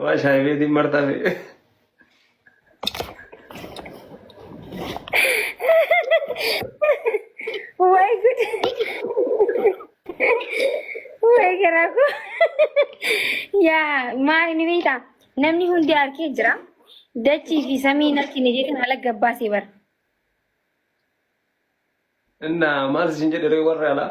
Waa shaayii beetiin martaa fi. Way good. Way garaa koo. Yaa maali ni beektaa? Namni hundi harkee jira. Dachii fi samii natti ni jedhin ala gabbaasee bara. Innaa maal isin jedhe ree warra alaa?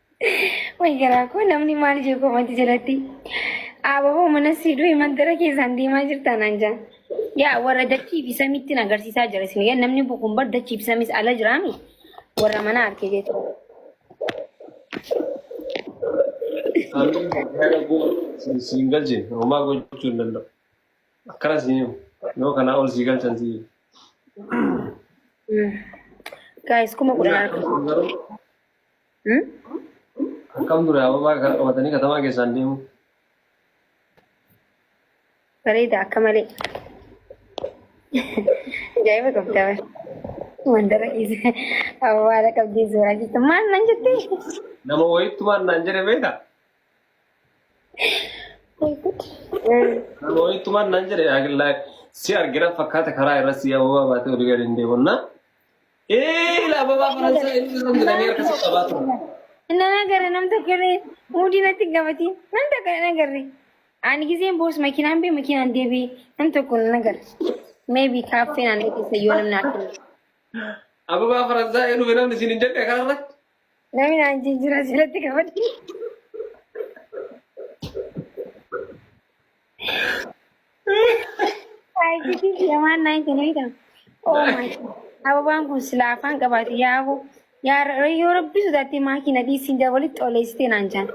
Way garaa koo namni maal jee koomatti jalatti. Ababoo mana siiduu mandara keessaan deemaa jirta naan jaa. Yaa warra dachii fi samiitti na agarsiisaa jira isin. Yaa namni bukuun bar dachii fi samiis ala jiraami. Warra mana harkee jeetu. Siin galche homaa gochuu hin danda'u. Akkana siin himu. Yoo kanaa ol sii galchan sii himu. Gaayis kuma kudhan harka. Garuu Akkam ture ababaa kana qabatanii katamaa keessaan deemu. Bareeda akka malee. Ajaa'iba qabda bara. Mandara keessa awwaala qabdee suuraa jirtu maal nan jettee? Nama wayittumaan naan jedhe beekta. Nama wayittumaan naan jedhe agillaa si argina fakkaata karaa irra si ababaa baatee olii gadi hin deemonna. Ee laababaa faransaa inni irra midhamee harka si qabaa ture. Nan agarre nam tokko illee hundii natti hin gabatiin nam tokko nan agarre. Ani giseen boos makiinaan bee makiinaan deebi'e nam tokko nan agarre. Meebi kaaffee naannoo keessa yoo namni arginu. Ababaa faransaa ee dhufe namni isin hin jenne kanarra. Namni naan jijjiiraa asirratti gabatii. Aayitiifi yamaan naan kenna jedhama. Oh my God. Ababaan kun silaa afaan qabaate yaa'u. Yaa ra- yoo rabbi sodaattee maakii na dhiisiin jaa walitti oleessitee naan jaan.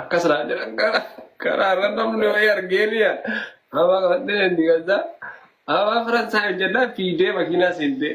Akkas laa jedhan karaa karaa irra namni wayii argee liya. Abaa qabattee deemti gazzaa. Abaa Faransaay hojjannaa fiidee makiinaa seentee.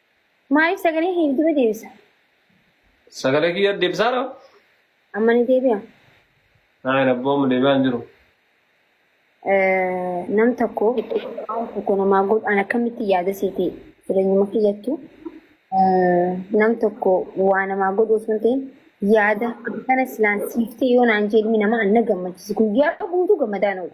Maaliif sagalee kee dura deebisa? Sagalee kiyya deebisaadha. Amma ni deebi'a. Naayin abboo amma deebi'aa hin jiru. Eh, Nam tokko waan tokko namaa godhu an akkamitti yaada seete jireenyuma kiyyattu eh, nam tokko waa namaa godhu osoo hin ta'in yaada kana silaan siiftee yoo naan jedhmi nama an na gammachiisa guyyaa guutuu gammadaan oolu.